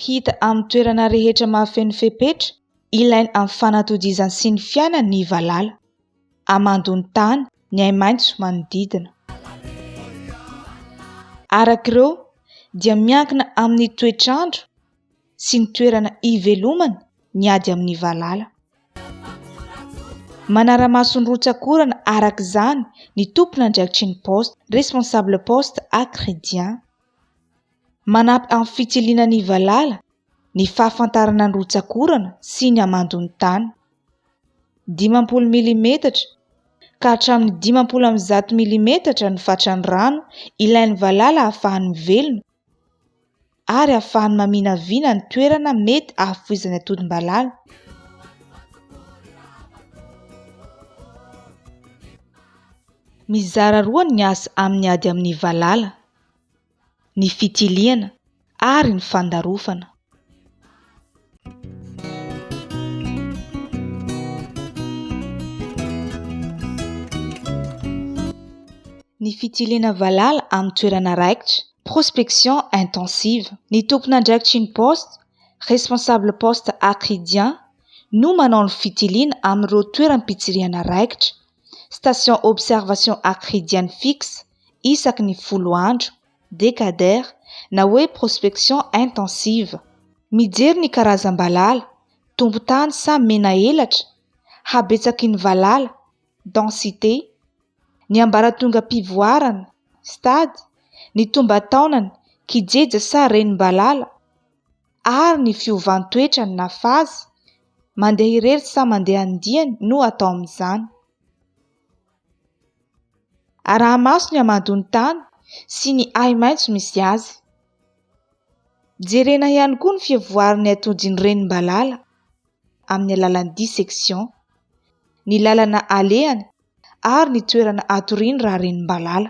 Hita amin'ny toerana rehetra mahafeno fepetra ilaina amin'ny fanatodizany sy ny fiainany ny valala. Hamandoa ny tany, ny ahi-maitso manodidina. Araka ireo dia miankina amin'ny toetr'andro sy ny toerana ivelomany ny ady amin'ny valala. Manara-maso ny rotsak'orana araka izany ny tompon'andraikitry ny Poste, Responsable Poste A Chrédien. Manampy amin'ny fitsiliana ny valala ny fahafantarana ny rotsak'orana sy ny hamandon'ny tany. Dimampolo milimetatra ka hatramin'ny dimampolo amby zato milimetatra ny fatran'ny rano ilain'ny valala ahafahany mivelona ary hahafahany maminavina ny toerana mety hahafoizany atodimbalala. Mizara roa ny asa amin'ny ady amin'ny valala, ny fitiliana ary ny fandarofana. Ny fitiliana valala amin'ny toerana raikitra, prospection intensive. Ny tompon'andraikitry ny poste, responsable poste Acridia, no manao ny fitiliana amin'ireo toeram-pitsirihana raikitra, station observation Acridian fixe, isaky ny folo andro. Decader na hoe prospection intensive. Mijery ny karazam-balala, tompon-tany sa mena elatra, habetsaky ny valala, densité, ny ambaratongam-pivoarana, stade, ny tomban-taonany, kijeja sa renim-balala, ary ny fiovan-toetrany na phase, mandeha irery sa mandeha andiany no atao amin'izany. Araha-maso ny hamandoan'ny tany sy ny ahi-maitso misy azy. Jerena ihany koa ny fivoaran'ny atodin'ny renim-balala amin'ny alalan'ny dissection, ny lalana alehany ary ny toerana atoriany raha renim-balala.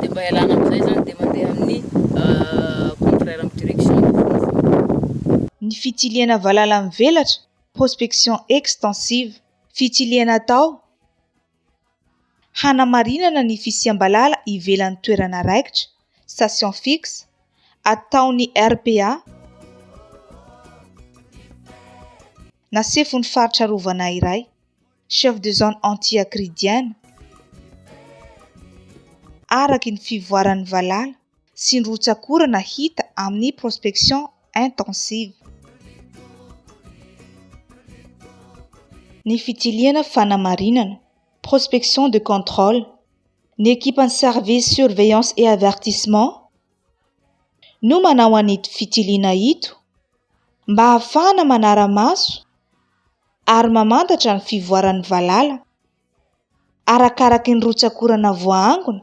dia mba ialana amin'izay izany dia mandeha amin'ny contraire amin'ny direction ny vovoka. Ny fitsiliana valala mivelatra, prospection extensive, fitsiliana atao hanamarinana ny fisiam-balala ivelan'ny toerana raikitra, station fixe, ataon'ny RPA na sefon'ny faritra arovana iray. Chef de zone anti-akridiana, araky ny fivoaran'ny valala sy ny rotsak'orana hita amin'ny prospection intensive. Ny fitsilihana fanamarinana, prospection de contrôle, ny ekipan'ny service surveillance et avertissement no manao an'ito fitiliana ito mba hahafahana manara-maso, ary mamantatra ny fivoaran'ny valala, arakaraky ny rotsak'orana voaangona,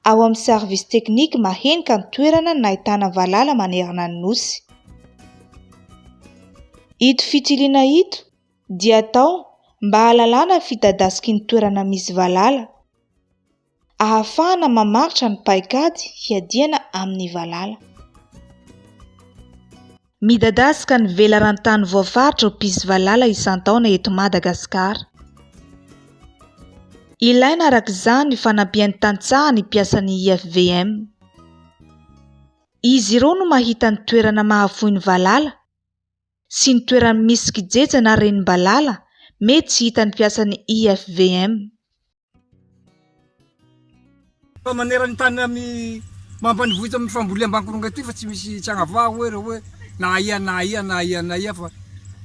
ao amin'ny Sarvisy Teknika mahenika ny toerana nahitana valala manerana ny Nosy. Ito fitiliana ito dia atao mba hahalalana ny fidadasiky ny toerana misy valala. ahafahana mamaritra ny paikady hiadiana amin'ny valala. Midadasika ny velaran-tany voafaritra ho mpisy valala isan-taona eto Madagasikara. Ilaina araka izany ny fanampian'ny tantsaha ny mpiasan'ny IFVM. Izy ireo no mahita ny toerana mahafoy ny valala sy ny toerana misy kijeja na renim-balala mety tsy hitan'ny mpiasan'ny IFVM. Fa manera ny tany amin'ny mampanivohitra amin'ny famboleam-bankoronga ity fa tsy misy tsy agnavaha hoe ireo hoe na aia na aia na aia na aia fa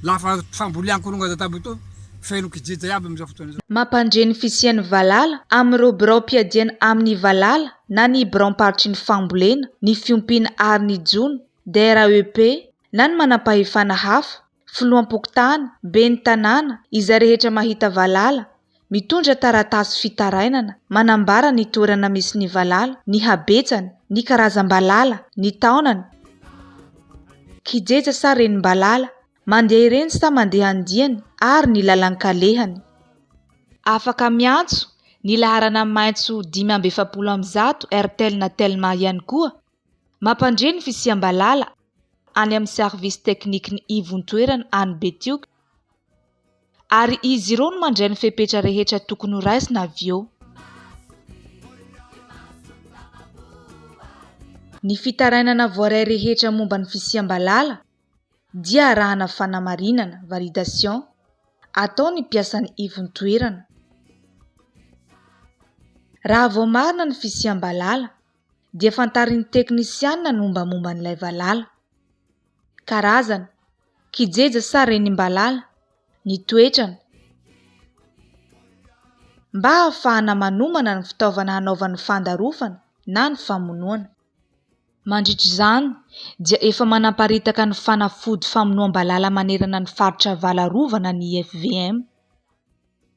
lafa fambolean-koronga aza tamiboho etoa feno kijeja iaby amin'izao fotoana izao. Mampandre ny fisian'ny valala amin'ireo biraom-piadiana amin'ny valala na ny biraom-paritry ny fambolena, ny fiompiana ary ny jono, DRAEP, na ny manam-pahefana hafa. filoham-pokontany, ben'ny tanàna, izay rehetra mahita valala, mitondra taratasy fitarainana manambara ny toerana misy ny valala, ny habetsany, ny karazam-balala, ny taonany, kijeja sa renim-balala mandeha ireny sa mandeha ny diany ary ny lalan-kalehany. Afaka miantso ny laharana maitso dimy amby efapolo amby zato Airtel na Telma ihany koa Mampandre ny fisiam-balala any amin'ny Sarvisy Teknikin'ny Ivontoerana any Betioky ary izy ireo no mandray ny fepetra rehetra tokony ho raisina avy eo. Ny fitarainana voaray rehetra momba ny fisiam-balala dia arahana fanamarinana, validation, atao ny mpiasan'ny ivontoerana. Raha vao marina ny fisiam-balala, dia fantarin'ny teknisianina ny mombamomba an'ilay valala. Karazana, kijeja sa renimbalala, ny toetrany. Mba hahafahana manomana ny fitaovana hanaovan'ny fandarofana na ny famonoana. Mandritra izany dia efa manamparitaka ny fanafody famonoam-balala manerana ny faritra Avalarovana ny IFVM.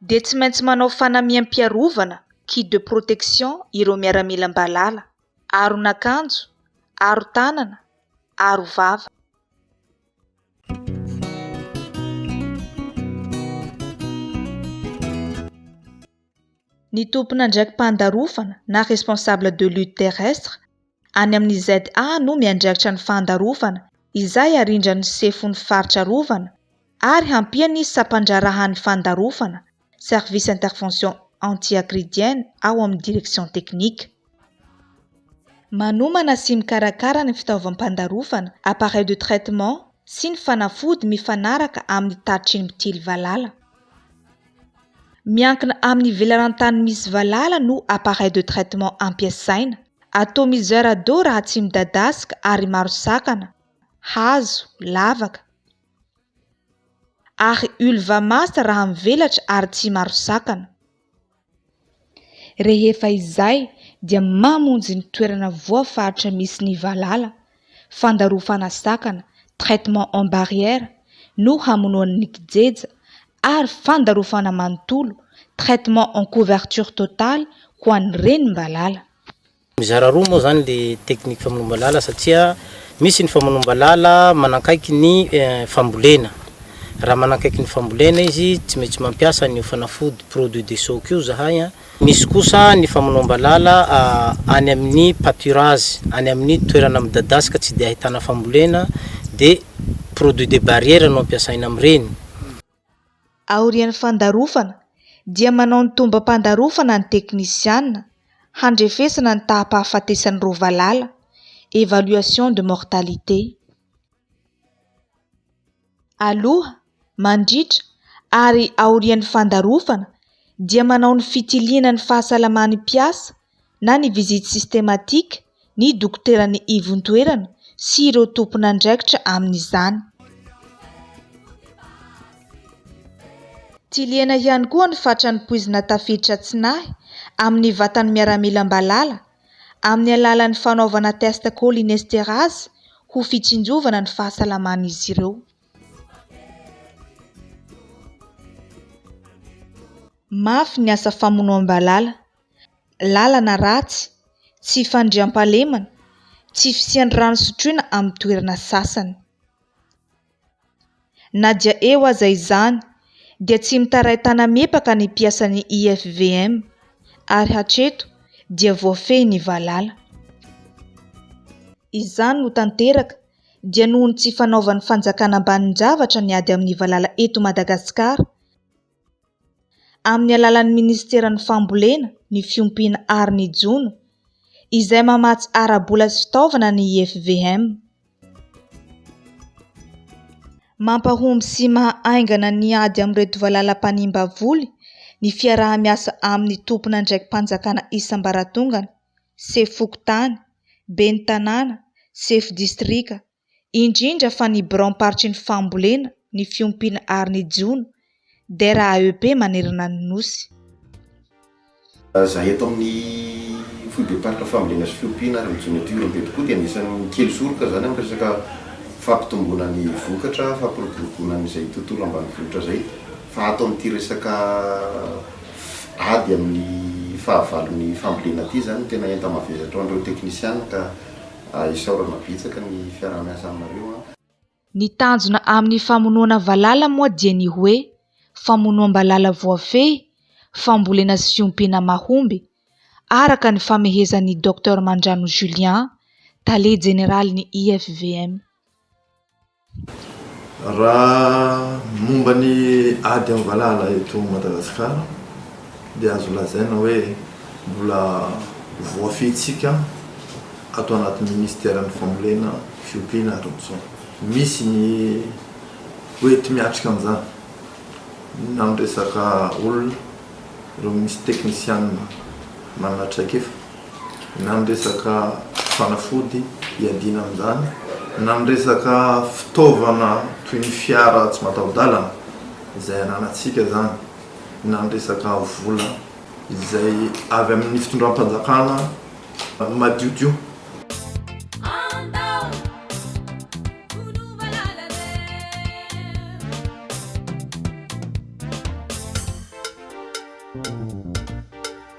dia tsy maintsy manao fanamiam-piarovana, kit de protection, ireo miaramila mba lala, aron'akanjo, aron-tanana, arovava. Ny tompon'andraiki-pandarofana na responsable de lutte terrestre Any amin'ny ZA no miandraikitra ny fandarovana izay arindran'ny Sefon'ny Faritra Arovana ary hampian'ny Sampandraharahan'ny Fandarovana, Service Intervention Anti-Agridienne, ao amin'ny Direction Technique. Manomana sy mikarakara ny fitaovam-pandarovana, appareils de traitement, sy ny fanafody mifanaraka amin'ny tatitry ny mpitily valala. Miankina amin'ny velaran-tany misy valala no appareil de traitement ampiasaina. Atomiseur d'eau raha tsy midadasika ary maro sakana, hazo, lavaka. Ary Ulvamas raha mivelatra ary tsy maro sakana. Rehefa izay dia mamonjy ny toerana voafaritra misy ny valala, fandarofana sakana, traitement en barrière, no hamonoan'ny kijeja, ary fandarofana manontolo, traitement en couverture totale, ho an'ny renim-balala. Mizara roa moa izany ilay teknika famonoam-balala satria misy ny famonoam-balala manakaiky ny fambolena. Raha manakaiky ny fambolena izy tsy maintsy mampiasa an'io fanafody produit de choc io izahay. Misy kosa ny famonoam-balala any amin'ny pâturage, any amin'ny toerana midadasika tsy dia ahitana fambolena dia produit de barrière no ampiasaina amin'ireny. Aorian'ny fandarofana dia manao ny tombam-pandarofana ny teknisiana handrefesana ny taham-pahafatesan'ireo valala, évaluation de mortalité, aloha, mandritra ary aorian'ny fandarofana dia manao ny fitiliana ny fahasalaman'ny mpiasa na ny visite systematique ny dokoteran'ny ivon-toerana sy ireo tompon'andraikitra amin'izany. Tsilihana ihany koa ny fatran'ny poizina tafiditra tsy nahy amin'ny vatan'ny miaramila am-balala amin'ny alalan'ny fanaovana test cholinesterase ho fitsinjovana ny fahasalaman'izy ireo. Mafy ny asa famonoam-balala. lalana ratsy, tsy fandriampahalemana, tsy fisian'ny rano sotroina amin'ny toerana sasany. Na dia eo aza izany dia tsy mitaray tanamepaka ny mpiasan'ny IFVM ary hatreto dia voafehy ny valala. Izany no tanteraka dia noho ny tsy fanaovan'ny fanjakana ambanin-javatra ny ady amin'ny valala eto Madagasikara, amin'ny alalan'ny minisiteran'ny fambolena, ny fiompiana ary ny jono, izay mamatsy ara-bola sy fitaovana ny IFVM. Mampahomby sy maha haingana ny ady amin'ireto valala mpanimba voly ny fiaraha-miasa amin'ny tompon'andraiki-panjakana isam-baratongany, sefo fokontany, ben'ny tanàna, sefo distrika, indrindra fa ny biraom-paritry ny fambolena, ny fiompiana ary ny jono, DRAEP, manerana ny Nosy. Raha eto amin'ny foibem-paritra fambolena sy fiompiana ary ny jono eto Ihorombe tokoa dia anisan'ny kely soroka izany amin'ny resaka fampitomboana ny vokatra, fampiroboroboana an'izay tontolo ambanivohitra izay fa ato amin'ity resaka ady amin'ny fahavalon'ny fambolena ity izany no tena enta-mavesatra ho an'ireo teknisiana ka A Isaorana betsaka ny fiaraha-miasa aminareo a. Ny tanjona amin'ny famonoana valala moa dia ny hoe famonoam-balala voafehy, fambolena sy fiompiana mahomby, araka ny famehezan'i Docteur Mandrano Julien, tale jeneralin'ny IFVM. Raha ny momba ny ady amin'ny valala eto Madagasikara dia azo lazaina hoe mbola voafehitsika ato anatin'ny minisiteran'ny fambolena, fiompiana ary ny zona. Misy ny hoenti miatrika an'izany na ny resaka olona, ireo minisy teknisianina manana traikefa. na ny resaka fanafody hiadiana amin'izany, na ny resaka fitaovana toy ny fiara tsy mataho-dalana izay ananantsika izany, na ny resaka vola izay avy amin'ny fitondram-panjakana madiodio.